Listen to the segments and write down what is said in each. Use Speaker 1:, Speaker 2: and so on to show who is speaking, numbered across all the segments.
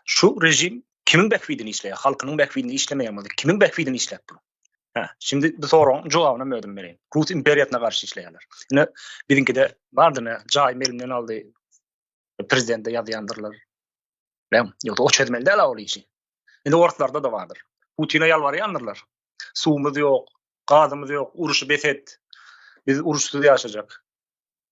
Speaker 1: Şu rejim kimiň bähbidini işleýär? Halkynyň bähbidini işlemeýär bolsa, kimiň bähbidini işläp dur? Hä, şimdi bu soragyň jogabyny men özüm bereýin. Rus imperiýasyna garşy işleýärler. Ine, biziňkide bardy ne, jaý melimden aldy. Prezidente ýazýandyrlar. Näm, ýogsa o çözmeli däl ol işi. Indi orslarda da bardyr. Putine ýalbarýandyrlar. Suwumyz ýok, gazymyz ýok, uruşy bes et. Biz uruşsyz ýaşajak.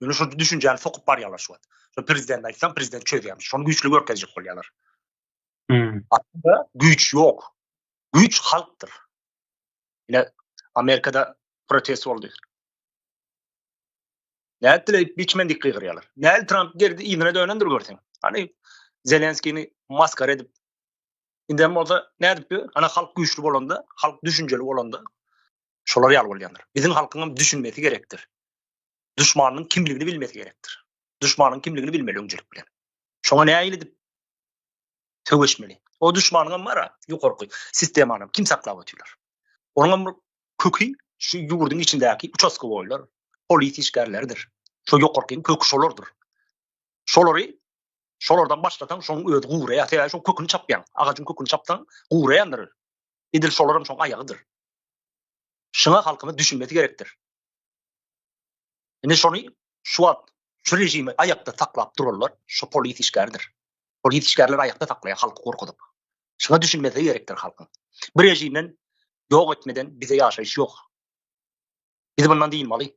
Speaker 1: Ýöne şu düşünjäni sokup barýarlar şu wagt. Şu prezident aýtsam, prezident çözýärmiş. Şony güýçli görkezjek bolýarlar. Hmm. Aslynda güýç ýok. Güýç halkdyr. Ýöne Amerikada protest boldy. Nädile biçmen dik gygyrýarlar. Näl Trump gerdi ýene dönendir görseň. Hani Zelenskini maskar edip. Indem bolsa nädip? Ana halk güýçli bolanda, halk düşünjeli bolanda, Şolar ýaly bolýandyr. Biziň halkyňam düşünmesi gerekdir. Duşmanynyň kimligini bilmesi gerekdir. Duşmanynyň kimligini bilmeli öňçelik bilen. Şoňa nähili edip söweşmeli? O duşmanyňam bar-a, ýokarky sistemany kim saklap otyrlar? Onuňam köki şu ýurduň içindäki uçastka boýlar, polis işgärleridir. Şo ýokarkyň köki şolardyr. Şolary şolardan başlasaň, şoň özi guraýar. Sebäbi şoň köküni çapýaň. Agajyň köküni çapsaň, guraýandyr. Edil şolaram şoň aýagydyr. Şuňa halkymyz düşünmesi gerekdir. Indi şony şu wagt şu rejimi aýakda saklap duranlar şu polis işgärdir. Polis işgärleri aýakda saklaýar halky gorkuzyp. Şuňa düşünmesi gerekdir halkyň. Bu rejimden ýok etmeden bize ýaşaýyş ýok. Biz bundan dynmaly.